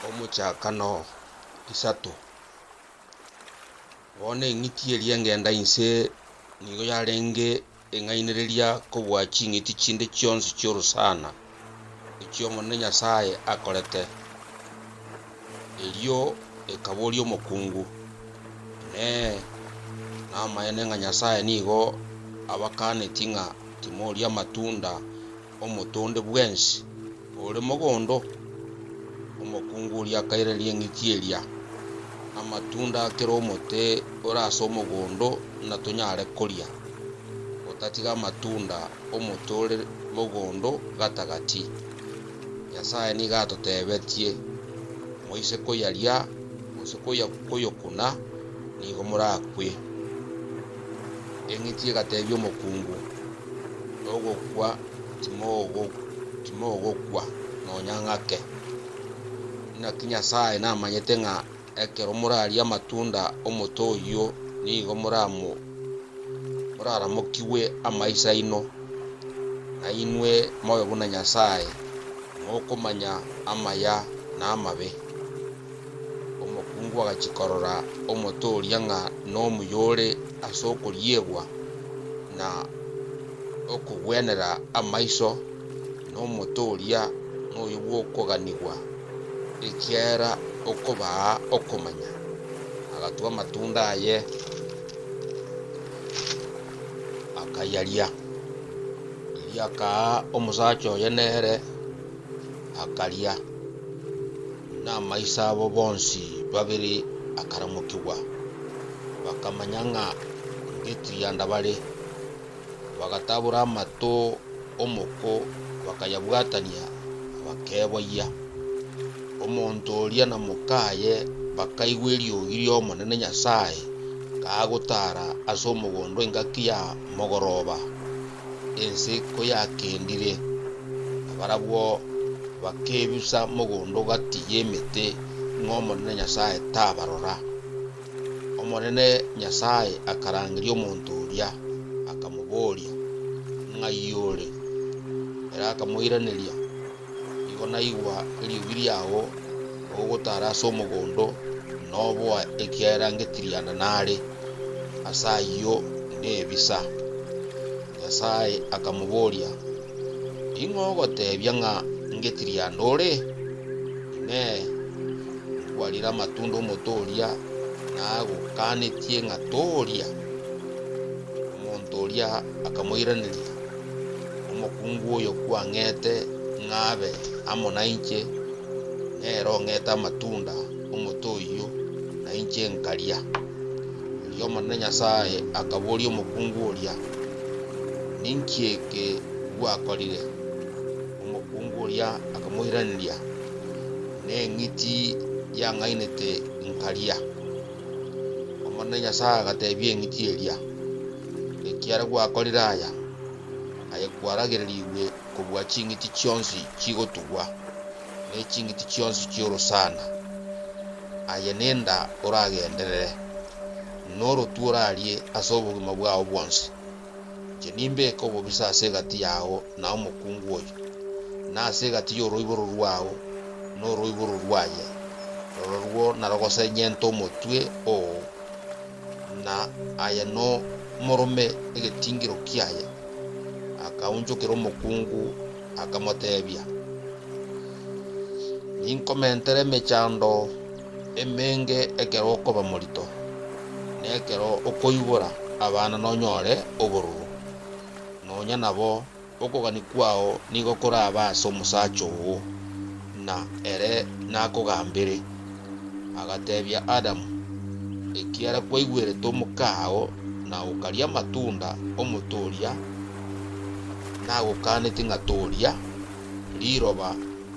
Omochakano isato. Bono eng'iti eria engenda inse nigo yarenge eng'ainereria kobua ching'iti chinde chionsi chi'orosana echio Omonene Nyasae akorete. Erio ekaboria omokungu, Inee! Namaene ng'a Nyasae nigo abakanetie ng'a timoria amatunda Omotonde bwensi ore mogondo omokungu oria akairereria eng'iti eria amatunda a kera omote ore ase omogondo ng'a tonyare koria, otatiga amatunda 'omote ore mogondo gatagati. Nyasae nigo atotebetie, Moise koyaria, gose koyokuna, nigo morakwe. Eng'iti egatebia omokungu, Ogokwa timogokwa nonya ng'ake. Naki Nyasae namanyete ng'a ekero morarie amatunda 'omote oyio nigo moraramokigwe amaiso aino, na inwe mobe buna Nyasae, mokomanya amaya na amabe. Omokungu agachia korora omote oria ng'a nomuya ore ase okoriegwa na okogwenera amaiso, na omote oria noyo bw'okoganigwa, ekiagera okobaa okomanya. Agatwa amatunda aye, akayaria. Erio akaa omosacha oye nere. akaria, na amaiso abo bonsi babere akaramokigwa, bakamanya ng'a ngetirianda bare. Bagatabora amato omoko bakayabwatania, bakeboyia. Omonto oria na mokaye bakaigwa eriogi ri'Omonene Nyasae kagotara as'omogondo engaki ya mogoroba. ense koyakendire, nabarabwo bakebusa mogondo gati y'emete ng'a Omonene Nyasae tabarora. Omonene Nyasae akarangeria omonto oria, akamoboria, Ng'ai ore? Ere akamoiraneria, Igo naigwa eriogi riao ogotara ase omogondo, na oboa ekiagera ngetiriana nare, ase ayio nebisa. Nyasae akamoboria, Ning'o ogotebia ng'a ngetiriana ore? Inee! Nkwarire amatunda omote oria nagokanetie ng'a toria? Omonto oria akamoiraneria, Omokungu oyo kwang'ete ng'abe amo nainche, nere ong'ete amatunda 'omote oyio, nainche nkaria. Erio Omonene Nyasae akaboria omokungu oria, Ninki eke gwakorire? Omokungu oria akamoiraneria, Neng'iti yang'ainete nkaria. Omonene Nyasae agateebia eng'iti eria, Ekiagera gwakorire aya, aye kwaragererigwe kobua ching'iti chionsi chigotugwa, ne ching'iti chionsi chi'orosana, aye nenda oragenderere, norotwe orarie ase obogima bwao bwonsi. Inche nimbeke obobisa ase egati yao na omokungu oyo, na ase egati y'oroiboro rwao na oroiboro rwaye, rororwo narogosenyente omotwe oo, na aye nomorome egetingiro kiaye. Akaunchokera omokungu, akamoteebia, Ninkomentere emechando. emenge ekero okoba morito, na ekero okoibora abana nonyore obororo, nonya nabo okogania kwao nigo korabe ase omosacha oo, na ere nakogambere. Agatebia Adamu, Ekiara kwaigwerete omokao na okaria amatunda omote oria nagokanetie ng'a toria, riroba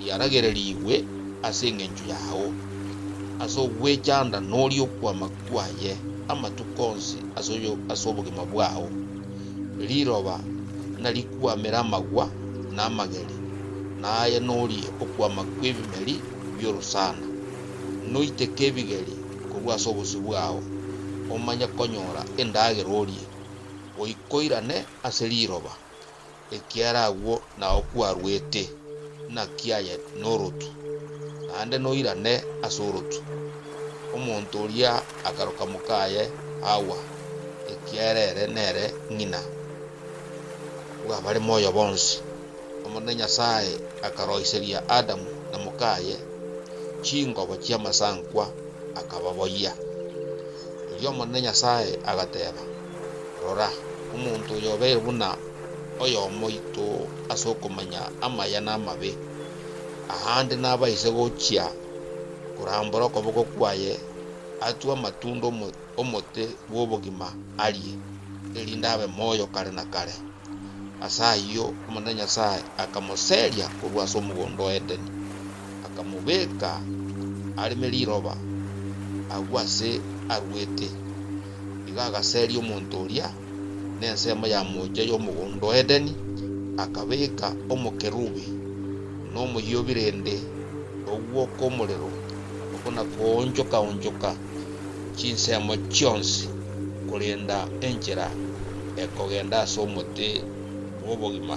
Yaragererigwe ase engencho yao, ase ogwechanda noria okwama kwaye amatuko onsi ase obogima bwao. Riroba narikwamere amagwa na amageri, na aye norie okwama kw'ebimeri bi'orosana. Noiteke ebigeri korwa ase obosio bwao, omanye konyora endagera orie, goika oirane ase riroba. Ekiagera agwo nao kwarwete, naki aye norotu, naende noirane ase orotu. Omonto oria akaroka mokaye Hawa, ekiagera ere nere ng'ina bw'abare moyo bonsi. Omonene Nyasae akaroiseria Adamu na mokaye chingobo chi'amasankwa, akababoyia. Erio Omonene Nyasae agateba. Rora, omonto oyo obeire buna oyomo oito ase okomanya amaya na amabe, aande nabaise gochia korambora okoboko kwaye atue amatunda 'omote bw'obogima arie, erinde abe moyo kare na kare. Ase ayio Omonene Nyasae akamoseria korwa ase omogondo o Edeni, akamobeka areme riroba agwo ase arwete. Igo agaseria omonto oria nensemo ya moocha y'omogondo o Edeni, akabeka omokerubi nomoyio birende ogwo kw'omorero, okwo nakoonchoka-onchoka. chinsemo chionsi, korenda enchera ekogenda ase omote bw'obogima.